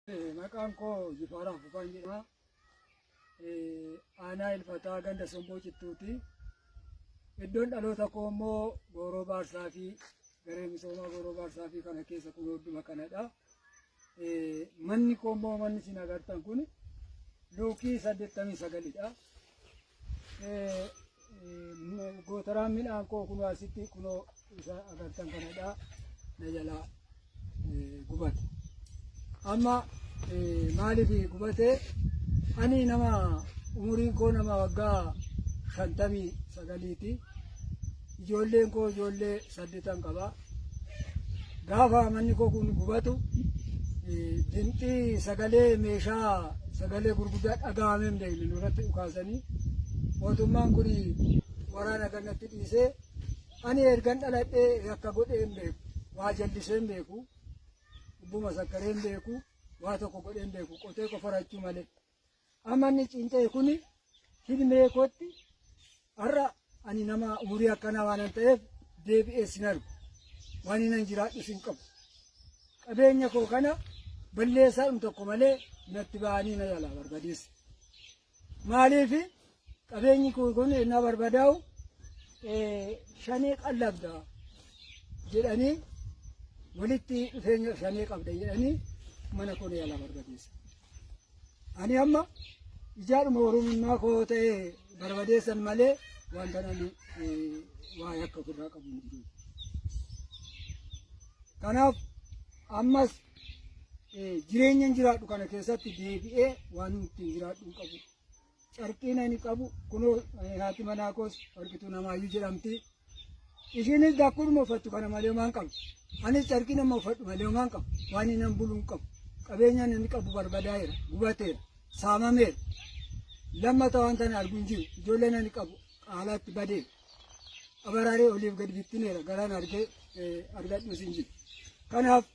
Maqaan koo Jifaaraa Fufaan jedhama. Aanaa Ilfataa ganda Somboo Cittuuti. Iddoon dhaloota koo immoo Gooroo Baarsaa fi garee misoomaa Gooroo Baarsaa fi kana keessa kun hunduma kanadha. Manni koo immoo manni isin agartan kun luukii saddeettamii sagalidha. gootaraan midhaan koo kunoo asitti kunoo isa agartan kanadha na jalaa gubate amma maaliif gubate ani nama umuriin koo nama waggaa shantamii sagaliiti ijoolleen koo ijoollee saddeetan qaba Gaafa manni koo kun gubatu dinxii sagalee meeshaa sagalee gurguddaa dhagahamee hin beekne nurratti dhukaasanii mootummaan kun waraana kanatti dhiisee ani ergan dhaladhee yakka godhee hin beeku waa jallisee hin beeku ubbuma sakkaree hin beeku waa tokko godhee hin beeku qotee qofarachuu malee Amma inni cinca'e kun hilmee kootti har'a ani nama umurii akkanaa waanan ta'eef deebi'ee sin argu. Waan inni nan jiraadhu sin qabu. Qabeenya koo kana balleessaadhum tokko malee natti ba'anii na jalaa barbadeessa. Maaliif Qabeenyi koo kun ennaa barbadaa'u shanee qallabda jedhanii walitti dhufeenya shanee qabda jedhanii mana koo yaalaa barbadeessa. Ani amma ijaadhuma oromummaa koo ta'e barbadeessan malee wanta nani waa yakka ofirraa qabu hin jiru. Kanaaf ammas jireenyan jiraadhu kana keessatti deebi'ee waan ittiin jiraadhu hin qabu. Carqiin ani qabu kunoo eh, haati manaa koos warqituu namaayyuu jedhamti. Ishiinis dakkuudhuma uffattu kana malee homaan qabu. Anis carqii nama uffadhu malee homaan qabu. Waan inni nan buluun qabu. Qabeenya inni qabu barbadaa'eera, gubateera, saamameera. Lammata waan tana arguu hin jiru. Ijoolleen ani qabu haalaatti badeera. Abaraaree oliif gad bittineera. Garaan argee eh, argadhuus hin jiru. Kanaaf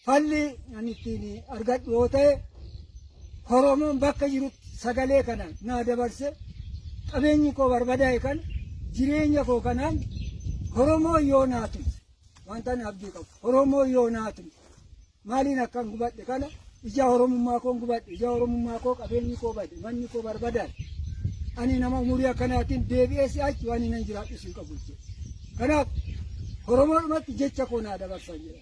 Falli ani ittiin argadhu yoo ta'e Oromoon bakka jirutti sagalee kana naa dabarse qabeenyi koo barbadaa'e kan jireenya koo kanaan Oromoo yoo naa tumse wanta ani abdii qabu Oromoo yoo naa tumse maaliin akkan gubadhe kana Ija Oromummaa koon gubadhe, ija Oromummaa koo qabeenyi koo bade, manni koo barbadaa'e. Ani nama umurii akkanaatiin deebi'ee si'achi waan hinan jiraadhus hin qabu jechuudha. Kanaaf Oromoodhumatti jecha koo naa dabarsan jedha.